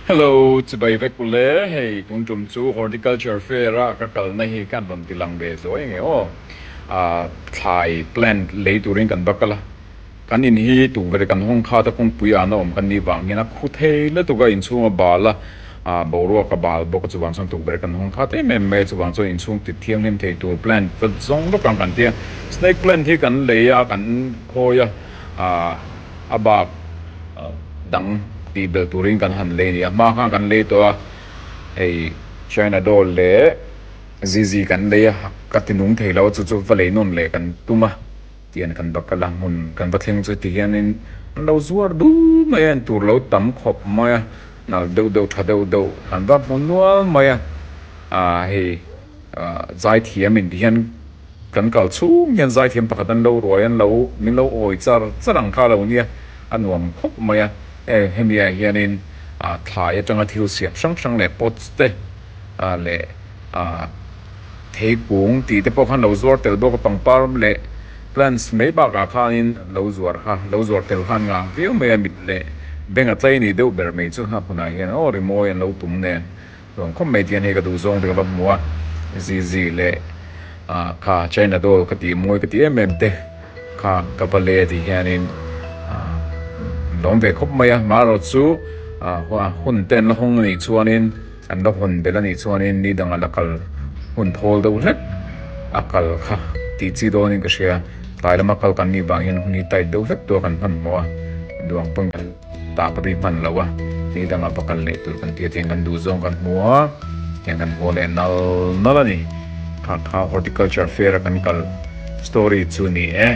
Hello, chibai vek u le, hei tun tum chu horticulture fair a ka kalna hi khan rawn ti lang ve zo eng e aw, ah thlai plant lei turin kan va kal a, kan in hi tukverh kan hawng khat a kawngpui ahna awm kan nih vangin a khu thei lutuk a, inchhung a bal a, ah boruak a bal bawk a, chuvang chuan tukverh kan hawng khat em em mai a, chuvang chuan inchhung tit thianghlim thei tur plant zawng zawk ang kan tia, snake plant hi kan lei a kan khawi a, ah a bak dang tih bel turin kan han lei nia, hma khan kan lei tawh a, hei China Doll leh ZZ kan lei a, ka ti nung thei lo a, chu chu va lei nawn leh kan tum a, tih an kan bak a la, hmun kan va thleng chu ti hianin an lo zuar duh mai a, en tur lo tam khawp mai a, nal deuh deuh tha deuh deuh an va hmu nual mai a, a hei. Zaithiam in tih hian kan kal chhung hian zaithiam pakhat an lo ruai an lo min lo awi char char ang kha lo nia a nuam khawp mai a hemi ah hian in thlai atanga thil siam hrang hrang leh pots te leh thei kung tih te pawh khan lo zuar tel bawk a pangpar leh plants mai bak ah khan in lo zuar kha lo zuar tel khan nghah viau mai a mit leh beng a tlai ni deuh ber mai chu a hun ah hian aw rimawi an lo tum nen. Chuan khawp mai tihian hei ka duh zawng te ka va hmu a, Zizi leh ah kha China doll ka tih mawi ka ti em em te kha ka va lei a tih hianin ah an lawm ve khawp mai a, mah erawh chu ah hun te an la hawng a nih chuanin an la hawn belh a nih chuanin ni dang a la kal hun thawl deuh hlek a kal kha tih chi dawnin ka hria, tlai lama kal kan nih vang hian hun hi tight deuh hlek tur a kan hman maw a duang pawn. Tah ka ri hman lo a, tih dang a pa kal leh tur kan ti a, tiang kan duh zawng kan hmu a, tiang kan haw leh nal nal a ni. Khakha Horticulture Fair a kan kal story chu ni e.